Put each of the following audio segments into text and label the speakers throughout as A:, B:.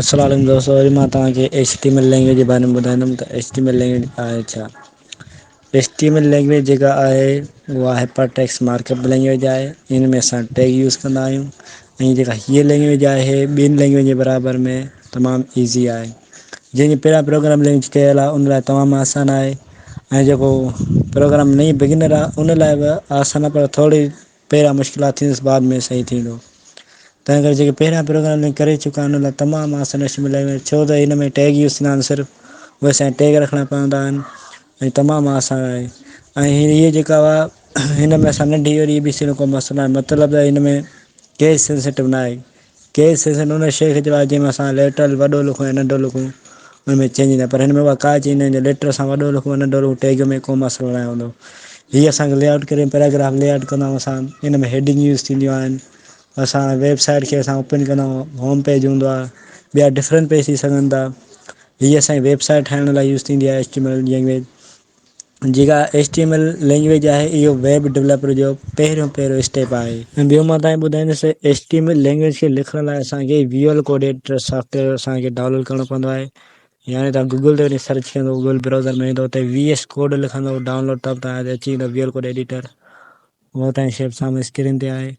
A: السلام عليڪم دوستو اڄ مان توهان کي H T M L language جي باري ۾ ٻڌائيندم ته H T M L language آهي ڇا H T M L language جيڪا آهي اها hyper text markup language آهي ان ۾ اسان ٽيگ يوز ڪندا آهيون ۽ جيڪا هيء لينگويج آهي ٻين لينگويج جي برابر ۾ تمام ايزي آهي جنهن جي پهريان پروگرام لينگويج ڪيل آهي ان لاء تمام آسان آهي ۽ جيڪو پروگرام نئين بگنر آهي ان لاء به آسان آهي پر ٿورڙي پهريان مشڪلات ٿيندس بعد ۾ صحيح ٿيندو تنهن ڪري جيڪي پهريان پروگرامنگ ڪري چڪا آهن ان لاء تمام آسان ڇو ته هن ۾ ٽيگ يوز ٿيندا آهن صرف اهي اسان کي ٽيگ رکڻا پوندا آهن ۽ تمام آسان آهي ۽ هيء جيڪا هئا هن ۾ اسان ننڍي وري اي بي سي جو ڪو مسئلو ناهي مطلب ته هن ۾ ڪيس سينسٽو ناهي ڪيس سينسٽو ان شيء کي چئبو آهي جنهن ۾ اسان ليٽرل وڏو لکون يا ننڍو لکون ان ۾ چينج ايندو آهي پر هن ۾ اها ڪا چينج ناهي جو ليٽر اسان وڏو لکون يا ننڍو لکون ٽيگ ۾ ڪو مسئلو ناهي هوندو هيء اسان کي لي آئوٽ ڪري پيراگراف لي آئوٽ ڪندو آهي اسان ان ۾ هيڊنگ يوز ٿينديون آهن اسان ويب سائيٽ کي اسان اوپن ڪندا آهيون هوم پيج هوندو آهي ٻيا ڊفرنٽ پيج ٿي سگهن ٿا هي اسانجي ويب سائيٽ ٺاهڻ لاء يوز ٿيندي آهي H T M L language جيڪا H T M L language آهي اهو ويب ڊولپر جو پهريون پهريون اسٽيپ آهي ۽ ٻيو مان تهائين ٻڌائيندس ته H T M L language کي لکڻ لاء اسانکي ويول ڪوڊ ايڊيٽر سافٽويئر اسانکي ڊائونلوڊ ڪرڻو پوندو آهي يعني تهان گوگل تي وڃي سرچ ڪندو گوگل براوزر ۾ ايندو اتي وي ايس ڪوڊ لکندو ڊائونلوڊ ته تهانجي اچي ويندو ويول ڪوڊ ايڊيٽر هونء ته شيف سامهون اسڪرين تي آهي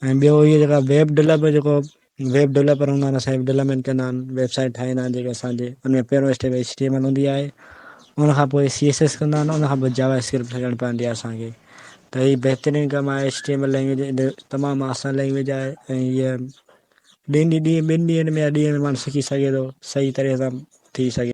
A: ۽ ٻيو اهي جيڪا ويب ڊولپ جيڪو ويب ڊولپر هوندا آهن سائي ڊولپمينٽ ڪندا آهن ويب سائيٽ ٺاهيندا آهن جيڪي اسان جي ان ۾ پهريون step H T M L هوندي آهي ان کان پوء سي ايس ايس ڪندا آهن ان کان پوء جاوا اسڪرپٽ ڇڏڻ پوندي آهي اسان کي ته هي بهترين ڪم آهي H T M L language تمام آسان لينگويج آهي ۽ هيء ڏينهن ڏينهن ٻن ڏينهن ۾ يا ڏينهن ۾ ماڻهو سکي سگهي ٿو صحيح طريقي سان ٿي سگهي